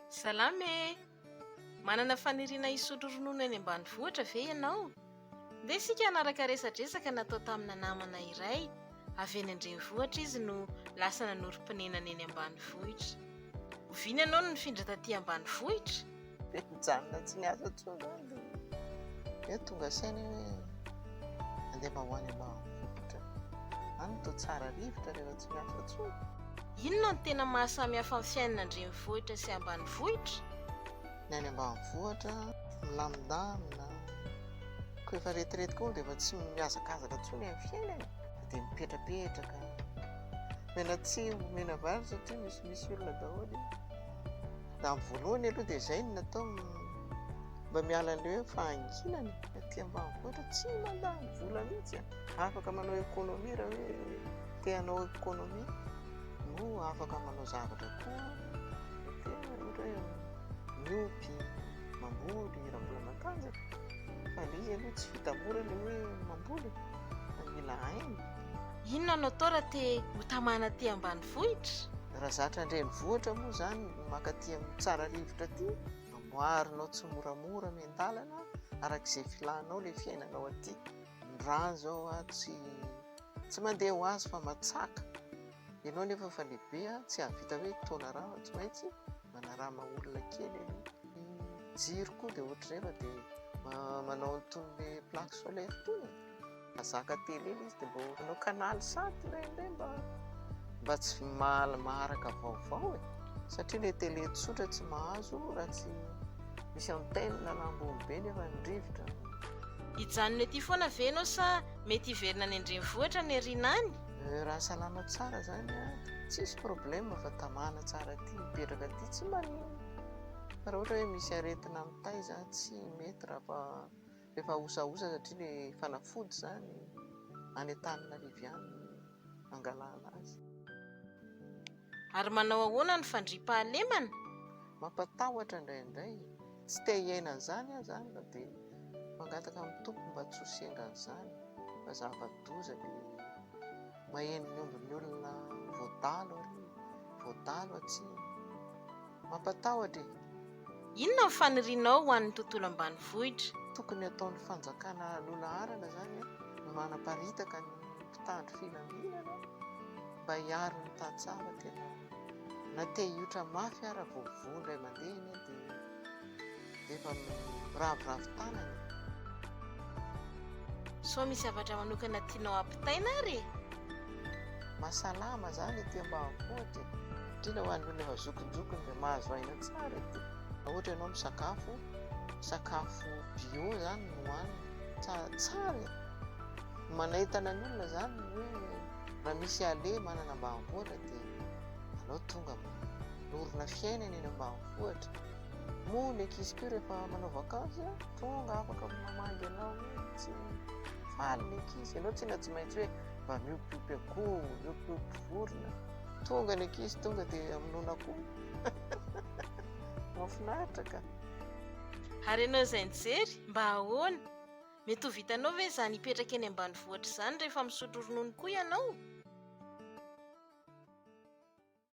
Salama e! Manana faniriana hisotro ronono any ambanivohitra ve ianao? Ndeha isika hanaraka resadresaka natao tamina namana iray avy eny an-drenivohitra izy no lasa nanorim-ponenana eny ambanivohitra. Oviana ianao no nifindra taty ambanivohitra? Dia nijanona tsy niasa intsony aho dia eo tonga saina hoe andeha mba ho any ambanivohitra. Any toa tsara rivotra rehefa tsy miasa intsony. Inona no tena mahasamy hafa ny fiainana an-drenivohitra sy ambanivohitra? Ny any ambanivohitra milamindamina, koa efa retirety koa dia efa tsy mihazakazaka intsony amin'ny fiainana e, dia mipetrapetraka, omena tsihy omena vary satria misimisy olona daholo e. Raha ny voalohany aloha dia izay no natao mba miala an'ilay hoe fahanginana aty ambanivohitra tsy mandany vola mihitsy a. Afaka manao économie raha hoe te hanao économie no afaka manao zavatra koa te ohatra hoe miompy, mamboly raha mbola matanjaka fa ilay izy aloha tsy vita mora ilay hoe mamboly fa mila aina. Inona no atao raha te ho tamana aty ambanivohitra? Raha zatra an-drenivohitra moa izany ny maka aty amin'ny tsara rivotra aty, amboarinao tsimoramora miandalana araka izay filanao ilay fiainanao aty. Ny rà izao tsy tsy mandeha ho azy fa matsaka. Ianao anefa efa lehibe, tsy hahavita hoe taona rà fa tsy maintsy manarà maha olona kely aloha. Ny jiro koa dia ohatr'izay fa dia manao an'itony hoe plaque solaire itony e. Mazaka tele ilay izy dia mba omeo canal sat ilay indray mba mba tsy mahala maharaka vaovao e. Satria ilay tele tsotra tsy mahazo raha tsy misy antenne na ambony be nefa ny rivotra. Hijanona ety foana ve ianao sa mety hiverina any an-drenivohitra any aoriana any? Euh, raha salama tsara izany a, tsisy problème fa tamana tsara aty, mipetraka aty tsy maninona. Fa raha ohatra hoe misy aretina mitaiza, tsy mety raha fa. Efa osaosa satria le fanafody zany any Antananarivo any no angalana azy. Ary manao ahoana ny fandriam-pahalemana? Mampatahotra indraindray, tsy te hiaina an'izany aho izany fa dia mangataka amin'ny Tompo mba tsy ho sendra an'izany fa zava-doza le maheno ny ombin'ny olona voadalo ary voadalo atsimo. Mampatahotra e! Inona ny fanirianao ho an'ny tontolo ambanivohitra? Tokony ataon'ny fanjakana lohalaharana izany ny manaparitaka ny mpitandro filaminana mba hiaro ny tantsaha fa tena na te hiotra mafy ara vao voa indray mandeha anie dia efa miraviravy tanana. Sao misy zavatra manokana tianao ampitaina ary e? Mahasalama zany ity ambanivohitra e. Indrindra ho an'olona efa zokinjokiny dia mahazo aina tsara ity. Raha ohatra ianao misakafo, sakafo bio zany no hohanina. Tsara tsara e. Manentana ny olona zany ny hoe raha misy ale manana ambanivohitra dia aleo tonga. dorona fiainana eny ambanivohitra moa ny ankizy koa rehefa manao vakansy a tonga afaka mamangy anao mihitsy faly ny ankizy ianao tsy na tsy maintsy hoe mba miompiompy akoho miompiompy vorona tonga ny ankizy tonga dia aminona akoho mahafinaritra ka ary ianao izay nijery mba ahoana mety ho vitanao ve izany hipetraka eny ambanivohitra izany rehefa misotro ronono koa ianao